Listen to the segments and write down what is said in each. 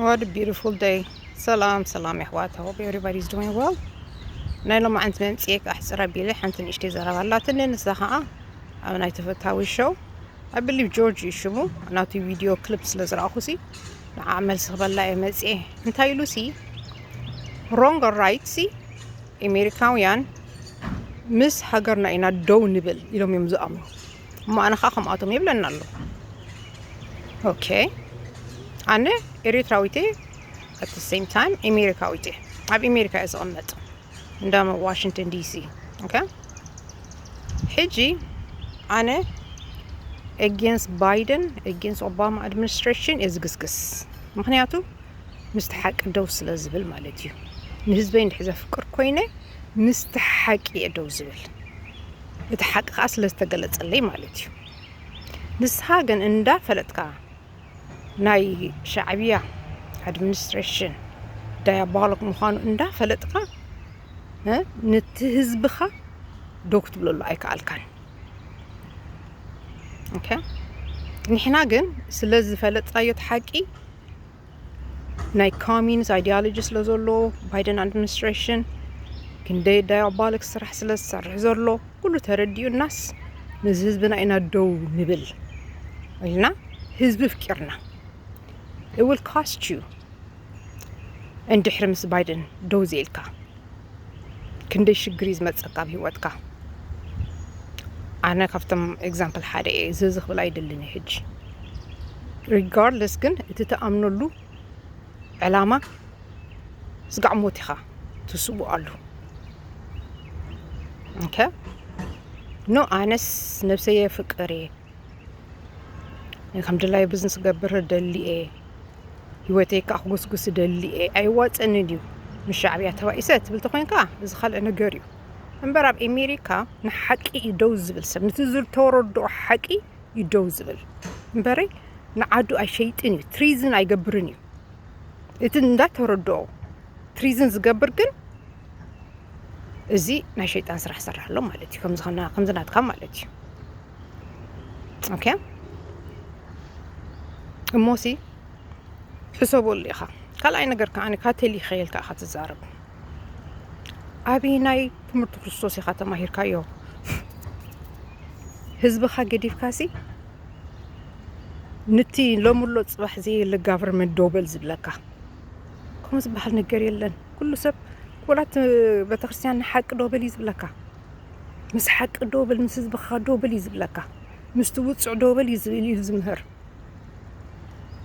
What a beautiful day. ሰላም ሰላም የሕዋት ሆፕ ኤቨሪባዲ ኢዝ ዱዊንግ ዌል ናይ ሎሚ ዓንት መምፅኤ ኣሕፅር ኣቢለ ሓንቲ ንእሽተይ ዘረባ ኣላትኒ ንሳ ከዓ ኣብ ናይ ተፈታዊ ሸው ኣብ ብሊቭ ጆርጅ እዩ ሽሙ ናቱ ቪድዮ ክሊፕ ስለ ዝረኣኹ ሲ ንዓ መልሲ ክበላ እየ መፅኤ እንታይ ኢሉ ሲ ሮንግ ራይት ሲ ኣሜሪካውያን ምስ ሃገርና ኢና ደው ንብል ኢሎም እዮም ዝኣምኑ እሞ ኣነ ከዓ ከምኣቶም የብለና ኣሎ ኦኬ ኣነ ኤሪትራዊት እየ ኣት ሴም ታይም ኤሜሪካዊት እየ ኣብ ኤሜሪካ እየ ዝቕመጥ እንዳ ዋሽንግተን ዲሲ ኦኬ ሕጂ ኣነ ኤጌንስ ባይደን ኤጌንስ ኦባማ ኣድሚኒስትሬሽን እየ ዝግስግስ ምክንያቱ ምስቲ ሓቂ ደው ስለ ዝብል ማለት እዩ። ንህዝበይ እንድሕር ዘፍቅር ኮይነ ምስቲ ሓቂ እየ ደው ዝብል፣ እቲ ሓቂ ከዓ ስለ ዝተገለፀለይ ማለት እዩ። ንስኻ ግን እንዳፈለጥካ ናይ ሻዕብያ ኣድሚኒስትሬሽን ዳያቦሎክ ምዃኑ እንዳፈለጥካ ነቲ ህዝብኻ ዶ ክትብለሉ ኣይከኣልካን። ኒሕና ግን ስለ ዝፈለጥናዮ እቲ ሓቂ ናይ ካሚንስ ኣይዲያሎጂ ስለ ዘሎ ባይደን ኣድሚኒስትሬሽን ክንደይ ዳያባሊክ ስራሕ ስለ ዝሰርሕ ዘሎ ኩሉ ተረዲኡናስ ነዚ ህዝብና ኢና ደው ንብል ኢልና ህዝቢ ፍቂርና እል ካስት ዩ እንድሕሪ ምስ ባይደን ደው ዘኢልካ ክንደይ ሽግር እዩ ዝመፀካ ኣብ ሂወትካ ኣነ ካብቶም ኤግዛምፕል ሓደ እየ እዚ እዚ ክብል ኣይደልን እየ ሕጂ ሪጋርድለስ ግን እቲ ተኣምነሉ ዕላማ ስጋዕ ሞት ኢኻ ትስቡ ኣሉ ኖ ኣነስ ነብሰየ ፍቅር እየ ከምድላይ ብዝንስ ገብር ደሊ እየ ሂወተይ ከዓ ክጉስጉስ ደሊ እየ ኣይዋፅእንን እዩ ምስ ሻዕብያ ተባኢሰ ትብል ተኮይንካ እዚ ካልእ ነገር እዩ እምበር ኣብ ኣሜሪካ ንሓቂ እዩ ደው ዝብል ሰብ ነቲ ዝተወረድኦ ሓቂ እዩ ደው ዝብል እምበረይ ንዓዱ ኣይሸይጥን እዩ ትሪዝን ኣይገብርን እዩ እቲ እንዳተወረድኦ ትሪዝን ዝገብር ግን እዚ ናይ ሸይጣን ስራሕ ሰራሕ ኣሎ ማለት እዩ ከምዚ ናትካ ማለት እዩ ኦኬ እሞሲ ሕሰበሉ ኢኻ ካልኣይ ነገር ከዓ ካቴል ይኸየልካ ኢኻ ትዛረብ ኣብይ ናይ ትምህርቲ ክርስቶስ ኢኻ ተማሂርካዮ ህዝብኻ ገዲፍካሲ ንቲ ሎምሎ ፅባሕ ዘየለ ጋቨርመንት ዶበል ዝብለካ ከምኡ ዝበሃል ነገር የለን ኩሉ ሰብ ወላት ቤተክርስትያን ንሓቂ ዶበል እዩ ዝብለካ ምስ ሓቂ ደው በል፣ ምስ ህዝብኻ ደው በል እዩ ዝብለካ። ምስቲ ውጹዕ ደው በል እዩ ዝብል ኢሉ ዝምህር።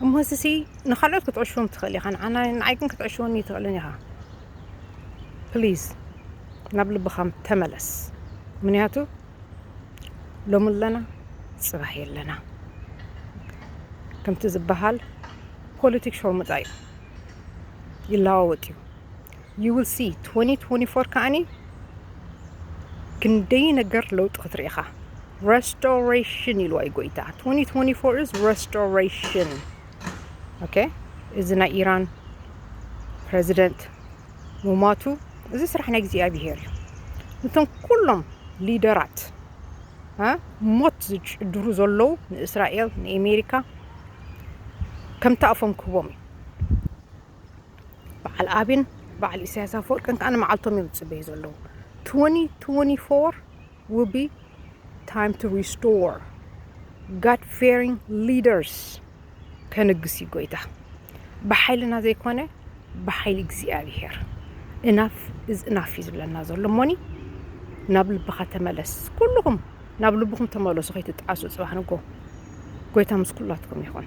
እሞ እዚሲ ንኻልኦት ክትዕሽዎም ትኽእል ኢኻ፣ ንዓና ንዓይ ግን ክትዕሽወኒ ኣይትኽእልን ኢኻ። ፕሊዝ ናብ ልብኻ ተመለስ፣ ምክንያቱ ሎሚ ኣለና ጽባሕ የለና ከምቲ ዝበሃል ፖለቲክ ሾርሙጣ እዩ፣ ይለዋወጥ እዩ። ዩ ዊል ሲ ትወኒ ትወኒ ፎር ከዓኒ ክንደይ ነገር ለውጢ ክትርኢ ኢኻ። ረስቶሬሽን ኢልዋ እዩ ጎይታ ትወኒ ትወኒ ፎር ኢዝ ረስቶሬሽን ኦኬ እዚ ናይ ኢራን ፕረዚደንት ሙማቱ እዚ ስራሕ ናይ እግዚኣብሄር እዩ እቶም ኩሎም ሊደራት እ ሞት ዝጭድሩ ዘለዉ ንእስራኤል ንኣሜሪካ ከምቲ ኣፎም ክህቦም እዩ በዓል ኣብን በዓል ኢሳያስ ኣፈወርቅን ከዓ ንመዓልቶም እዮም ዝፅበዩ ዘለዉ 2024 will be time to restore god fearing leaders ከንግስ እዩ ጎይታ ብሓይልና ዘይኮነ ብሓይሊ እግዚኣብሄር እናፍ እዚ እናፍ እዩ ዝብለና ዘሎ እሞኒ ናብ ልብኻ ተመለስ ኩልኹም ናብ ልብኹም ተመለሱ ከይትጣዓሱ ፅባሕ ንጎ ጎይታ ምስ ኩላትኩም ይኹን